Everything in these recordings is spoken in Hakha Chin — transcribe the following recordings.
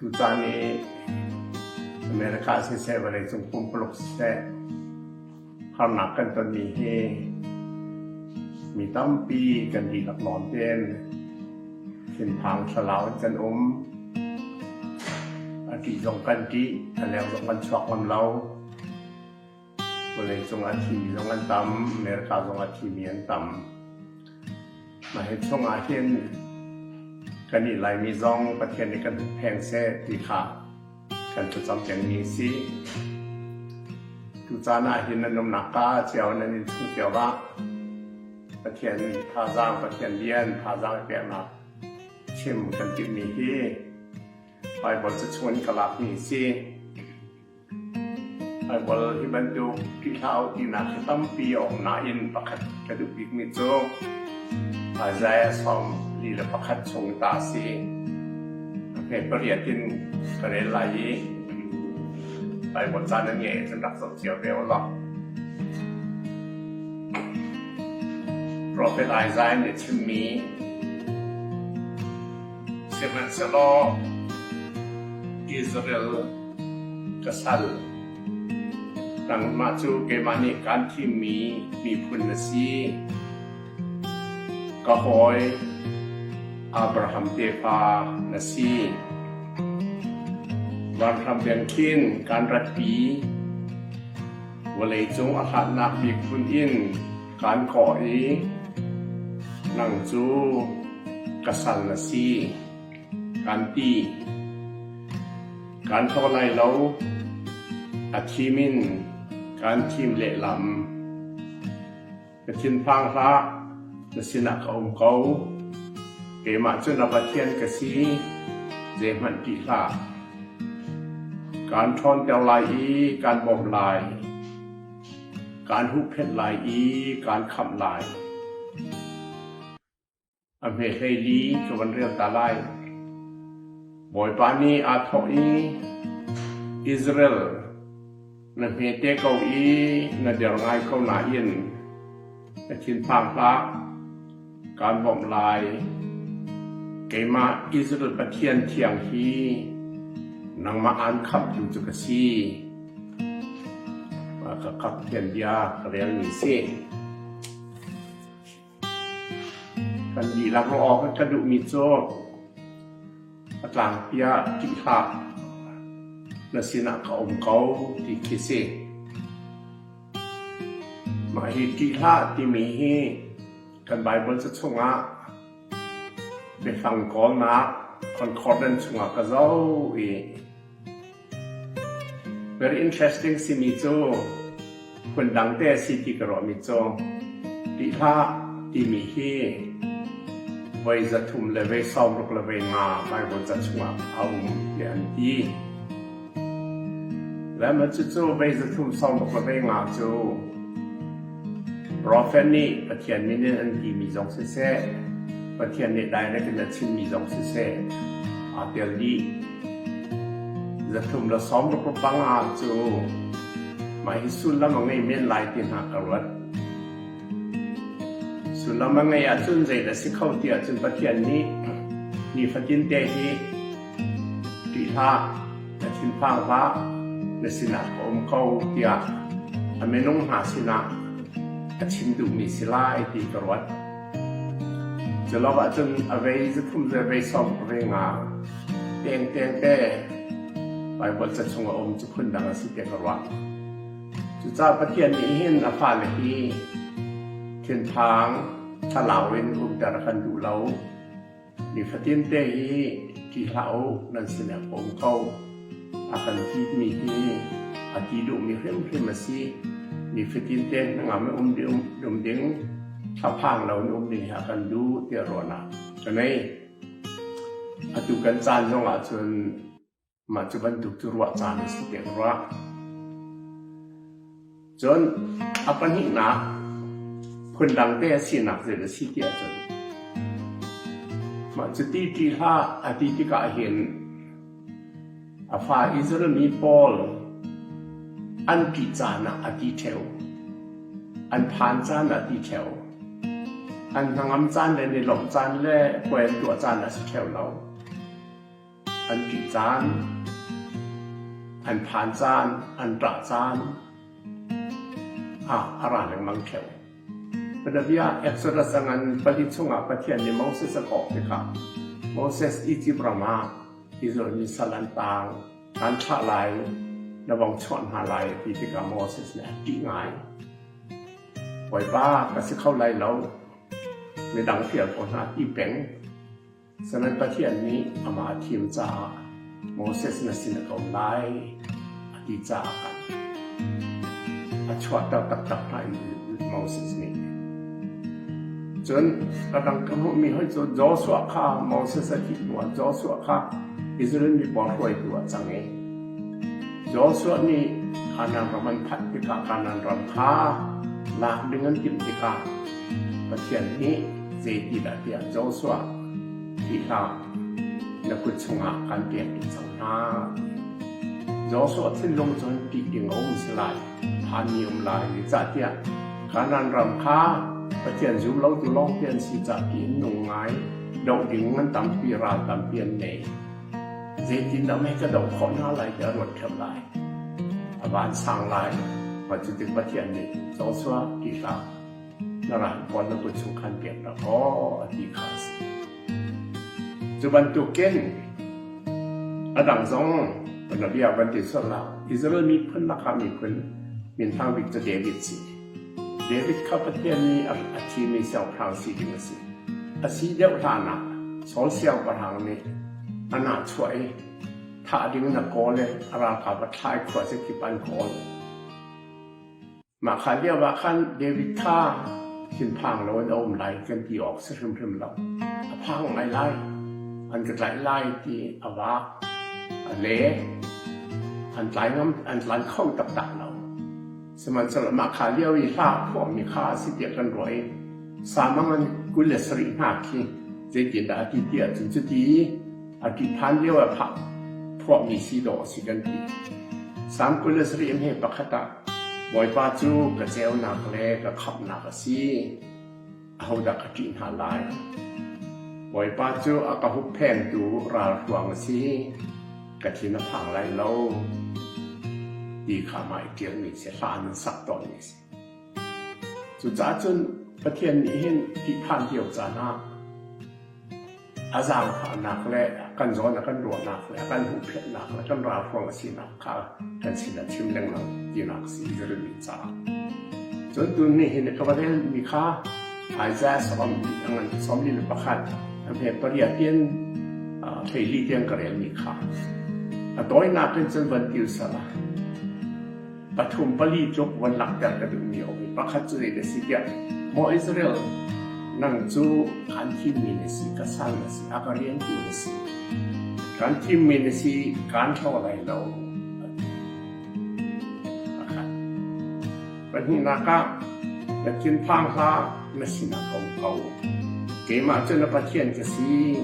Tutan i America siseh, vawleicung pumpuluk siseh, harnak kan tonmi hi mi tampi kan dihlak nawn tein thinphang thlalau in kan um. A ṭih zong kan ṭih, a leu zong kan chuak ngam lo. Vawlei cung a thimi zong an tam, America zong a thimi an tam. Mah hi chungah hin kan i Laimi zong Pathian nih kan hmuh pheng seh ti kha kan thlacam pengmi a si. Tucaan ah hin nan umnak ah cio nan in chung cio ah Pathian thazaang, Pathian bia in thazaang i peknak chim kan timhmi hi Baibal ca chung in ka lakmi a si. Thaikual hi bantuk ṭih hlah uh tinak hi tampi a um nain pakhat ka duh bikmi cu Isaiah sawm li le pakhat chung ta a si. Hme pariat in ka rel lai i Baibal caan na nge cun rak zoh cio ve u law. Prophet Isaiah nih chimmi Sihmanhsehlaw Israel ka sal, nangmah cu keimah nih kaan thimmi miphun na si. Ka hawi Abraham tefa na si. Vanhram beng khin kaan ratpi, vawleicung a hlatnak miphun in Kaan kawh i, Nang cu ka sal a si, kaan ti. Kaan hlaw lai lo, a thim in kaan thim lehlam. Na thinphang hlah, na sinah ka um ko. Keimah cu na Pathian ka si, zeihmanh ti hlah. Kaan ṭhawnter lai i kaan bawmh lai. Kaan huhphenh lai i kaan khamh lai. A hme hleili ka van rel ta lai. Bawipa nih aa thawh i, Israel, na hme te ko i na der ngai ko nain na thinphang hlah. Kaan bawmh lai. Keimah Israel Pathian thiang hi nangmah aan khamtu cu ka si. Ka kapthian bia ka relmi si. Kan dihlak aw kan ka duhmi cu ka tlangpi ah ṭih hlah, na sinah ka um ko ti khi si. Mah hi ṭih hlah timi hi kan Baibal ca chungah biafang kawlnak concordance chungah ka zoh i very interesting simi cu phundang te a si ti ka ruahmi cu ṭih hlah timi hi voi za thum le voi sawm ruk le voi nga Baibal ca chungah a um tiah an ti. Le maw cucu vei zathlum sawmuk le vei nga cu profet nih Pathian min in an timi zong siseh, Pathian nih direct in a chimmi zong siseh aa tel dih. Zathlum le sawmruk rupang ah cu mah hi sullam a ngei men lai ti hna ka ruat. Sullam a ngei ahcun zei dah si kho ti ahcun Pathian nih nifatin te hi Ṭih hlah, na thinphang hlah, na sinah ka um ko tiah a minung hna sinah a chim duhmi si lai ti ka ruat. Culokah cun a vei zathum zervei sawm ve nga tengtengte Baibal ca chung a um cu phundang a si tiah ka ruah. Cucaah Pathian nih hin a fale hi thinphang, thlalau in rumter a kan duh lo. Nifatin te hi ṭi hlah u, nan sinek a um ko, a kan ṭihmi hi a ṭih duhmi hrimhrim a si. Nifatin te hnangam i um ding, thlaphang lo in um ding hi a kan duh tiah ruahnak ka ngei. Atu kan caan zong ahcun Mah cu bantuk cu ruah caan si tein ruah. Cun a pahnihnak phundang te a sinak zet a si ti ahcun mah cu ti ti hlah a ti tikah hin a fa Israel mi pawl an ṭih caan ah a ti ṭheu an phan caan ah ti ṭheu an hnangam caan le nelawmh caan le puan tuah caan a si ṭheu lo An ṭih caan, an phan caan, an ṭah caan ah a ra lengmang ṭheu. Bianabia Exodus a ngan pali chungah Pathian nih Moses a kawh tikah Moses Izipt ram ah Israel mi sal an taang, kan thlah lai, na vong chuah hna lai ti tikah Moses nih a ṭih ngai. Bawipa ka si kho lai lo, midang fial ko hna ti peng. Saram Pathian nih amah a thim caah Moses na sin a tlawm lai a ti caah a chuahter taktak hna in Moses nih. Cun radang ka hmuhmi hoi cu Joshua kha Moses a thih hnuah Joshua kha Israel mi pawl hruaitu a cang i Joshua nih Kanaan ram an phanh tikah Kanaan ram kha lak ding an timh tikah Pathian nih zeitindah tiah Joshua thi hlah, na kut chungah kan pek ding co hna. Joshua thinlung cun ṭih ding a um si lai, phanmi um lai, zeicahtiah Kanaan ram kha Pathian zum lotu lawngte an si cah tiin nung ngai, doh ding an tampi ral tampi an nei. Zeitindah mei ka doh khawh hna lai tiah ruat ṭhep lai. A van sang lai, mah cu ti Pathian nih Joshua ti hlah. na ral pawl na kut chung khan peknak aw a ti kha a si. Cu bantukin a dang zong Bia bantin sorla Israel miphun lakah miphun minthang bik cu David si. David kha Pathian nih a thimi siangpahrang si ding a si. A si deuh hlanah Saul siangpahrang nih a na chuah i thah ding na kawl le a ralkap a thlai khua se kip an kawl. Mah hlan lioah khan David kha thinphang loin a um lai kan ti awk si hrimhrim lo. A phang ngai lai. An ka tlaih lai ti a vaak. A le an tlai ngam an tlai kho taktak lo. Sihmanhsehlaw mah kha lio i hla phuahmi kha a si tiah kan ruah i samang an kul le sarih hna khi zeitindah a ti tiah cun cuti A ti phan lio ah khah phuahmi si dawh a si kan ti. Sang kul le sarih hme pakhat ah Bawipa cu ka ceunak le ka khamhnak a si. A hodak a ṭih hna lai. Bawipa cu a ka hupphengtu ralhruang a si. Ka thin a phang lai lo. Ti kha mai ṭialmi si hlan sak tawn ni si. Cucaah cun Pathian nih hin ṭihphan cio caan ah a zaangfahnak le a kan zawn a kan ruahnak le a kan huhphenhnak le kan ralhruang a sinak kha kan sin a chim lengmang tinak a si i ka rin caah. Cun tun ni hin ka va relmi kha Isaiah sawm li le pakhat he pariat tiang theili tiang ka relmi kha a tawinak in cun van tilsal a Pathum pali cu van langhter ka duhmi a um i pakhat cu zei na si tiah, Maw Israel, nang cu kan thimmi na si, ka sal na si, a ka riantu na si. Kan thimmi na si, kan thlaw lai lo. Pahnihnak ah, na thinphang hla na sinah ko ko. Keimah cu na Pathian ka si,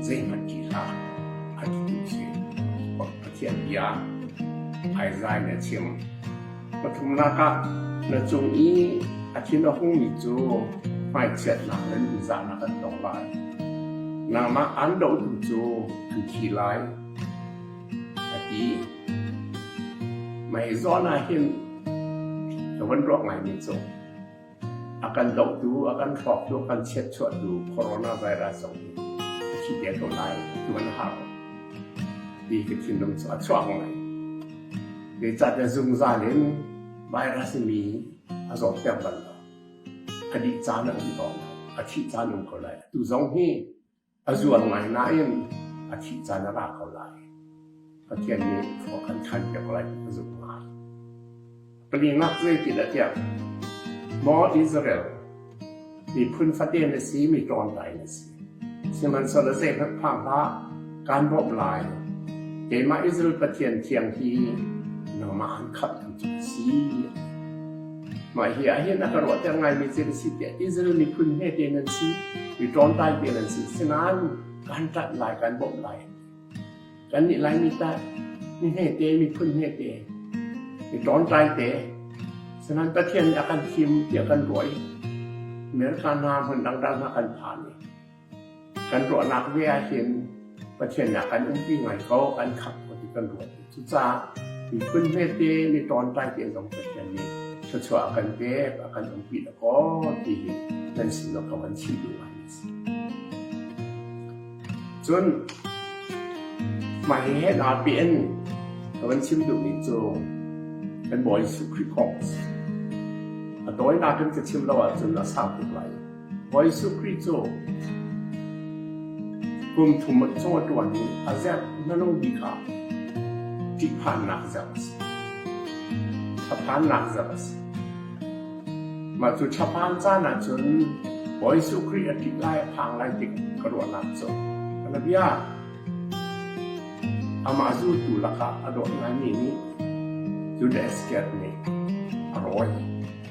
zeihmanh ti hlah, a ti si. Pathian bia Isaiah nih a chim. Pathumnak ah na cung i a thin a hungmi cu hmaichiatnak le nunzahnak an tong lai. Nangmah an dohtu cu an thi lai, a ti. Mah hi zawn ah hin ka van ruah ngaimi cu a kan dohtu, a kan hrawktu, a kan chiatchuahtu coronavirus zong hi a thi ve ko lai. Tuan a hau. Ti ka thinlung cu a chuak ngai. Zeicah te zungzal in virus mi a zawh ter bal lo. A dih caan a um ko lai. A thih caan um ko lai. Tu zong hi A zual ngai nain a thih caan a ra ko lai. Pathian nih khua kan ṭhanpiak lai a zumh ngai. Palingaak zeitinatiah maw Israel, miphun fate na si, mi ṭawntai na si. Sihmanhsehlaw zeihmanh phang hlah, kaan bawmh lai. Keimah Israel Pathian thiang hi nangmah an khamh an si. Mah hi ahhin a ka ruahter ngaimi thil a si tiah Israel miphun hme tein an si. Mi ṭawntai tein an si. Sinain kan ṭat lai, kan bawmh lai. Kannih Laimi ta mi hmete, miphun hmete, mi ṭawntai te. Sinain Pathian nih a kan thim tiah kan ruah i America hna hmun dangdang hna kan phan i Kan ruahnak vialte in Pathian ah kan umpi ngai ko, kan khat ko ti kan ruat. Cucaah miphun hmete, mi tawntai te zong Pathian nih thluachuah a kan pek, a kan umpi da kaw ti hi nan sin lo kan si duh ngai si. Cun mah hi he naa pe in ka van chim duh mi cu kan Bawi Jesuh Khrih kong a si. A tawinak in ka chim lo ahcun a sau tuk lai. Jesuh Khrih cu kum thum a chaw a ṭuan i a zerh na lo mi kha ṭihphannak zerh a si. Thlaphannak zerh a si. Mah cu thlaphan caan ahcun Jesuh Khrih a ṭih lai a phang lai tik ka ruahnak cu ka biabia amah zultu lakah a dawt ngaimi nih Judas Iskariot nih a rawi.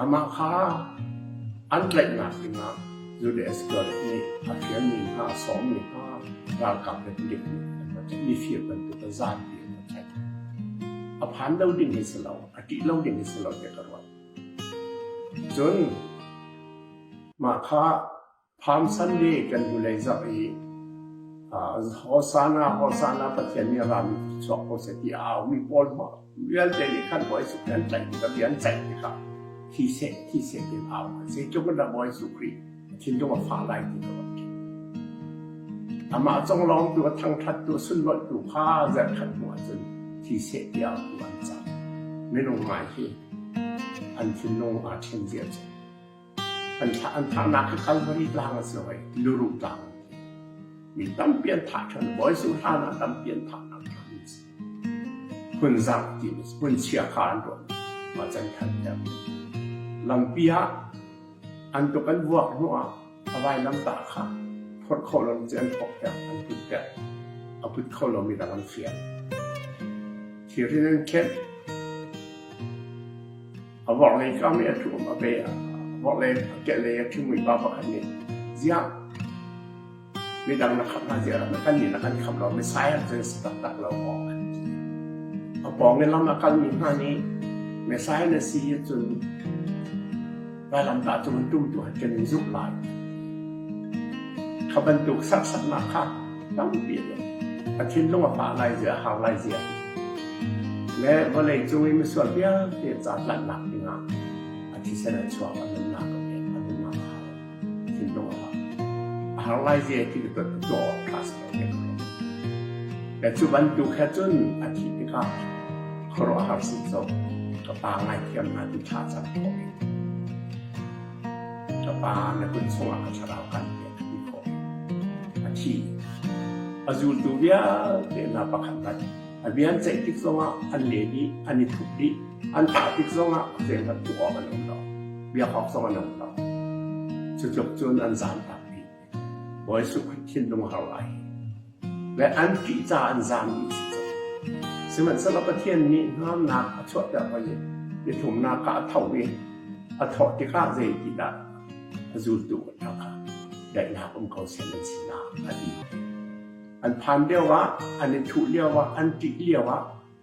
Amah kha an tlaihnak dingah Judah Iskariot nih a fialmi hna, a sawmmi hna ralkap le midik nih an va tlaih. Mi fir bantuk a zapi an va tlaih. A phan lo ding hi si lo, a ṭih lo ding hi si lo tiah ka ruat. Cun mah kha Phaamsan nih kan hnulei zarh i Hosana, Hosana Pathian nih a rami chuak ko seh ti a aumi pawl vialte nih khan Bawi Jesuh an tlaih tikah bia an ceih tikah thi seh thi seh tiin au zeitluk in dah Bawi Jesuh Khrih thinlung a fah lai ti lo amah conglawngtu a thangṭhattu a sunlawihtu kha zarhkhat hnu ahcun thi seh ti autu an cang minung ngai hi an thinlung aa ṭhen zia cu An thlah an thahnak hi Calvary tlang a si lo ai, Tiluru tlang. Mi tampi an thah ṭhan, Bawi Jesuh hlan ah tampi an thahnak tlang a si. Hmun zak ti a si, hmun chia kha an ruat, macan khan ter. Lampi ah an tuk an vuak hnu ah a vailam tah kha phawt kho lo cu an phawk ter, an put ter, a put kho lo mi dang an fial. Thir in an khenh, A vorhlei cuam i a thuum a pe. Vorhlei a kehlei a ṭhingmui pa pakhat nih, Ziah, midang na khamh hna ziarah na kannih na kan khamh lo, Messiah cu an si taktak lo maw? A pawngin lam a kalmi hna nih, Messiah na si hi cun vailamtah cung an tumtu han kan in zumh lai. Kha bantuk serhsatnak kha tampi a tlung. A thinlung a fah lai zia, a har lai zia. Le vawlei cung i misual vialte caahlanhnak dingah a thisen a chuak, a nunnak a pek, a nunnak a har. Thinlung a har. A har lai zia ti ka tuah tlak Le cu bantuk he cun a thi tikah khuaruahhar suk zo ka pa ngaithiam na ti tha cang ko. Ka pa na kun chungah ka thlarau kan pek ti khawh. A thi. A zultu vialte hna pakhat rat. A vian ceih tik zongah an leh dih, an i thup dih. An thah tik zongah zeihmanh tuh awk an um lo. Biak awk zong an um lo. Cu tluk cun an zam tak bik. Bawi Zuk thinlung a hau lai. Le an fih caah an zaammi a si tuk. Sihmanhsehlaw Pathian nih hnamnak a chuahter hoi i biathlumnak kha a tho i a thawh tikah zeitindah a zultu a ṭha kha daihnak um ko sen an si na, a ti. An phan lioah, an i thuh lioah, an ṭih lioah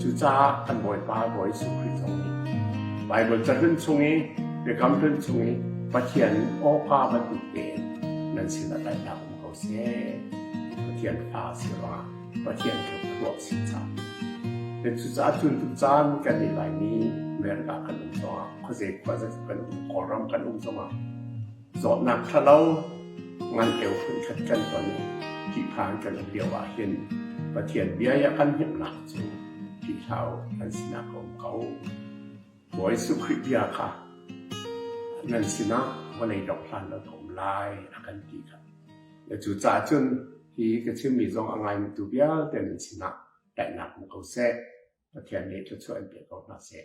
Cucaah kan Bawipa Bawi Jesuh Khrih zong nih Baibal cahlun chung i biakam hlun chung i Pathian awpa bantukte nan sinah tlaihnak um ko seh. Pathian fa si rua, Pathian thluak si cang. Te cucaah cun tu caan kan i laimi Amerika kan um zongah, khuazei khuazei kan um, Kawlram kan um zongah Zawtnak ṭhalo ngan eu phunkhat kan ton i tihphan kan um lio ahhin Pathian bia i a kan hnemhnak cu ṭihlau an sinak a um ko. Bawi Jesuh Khrih bia kha nan sinah vawlei dok hlan lo a um lai a kan ti kha. Na cu ca cun hi ka chimmi zong a ngaimitu vialte nan sinah daihnak hmu ko seh. Pathian nih thluachuah in pe ko hna seh.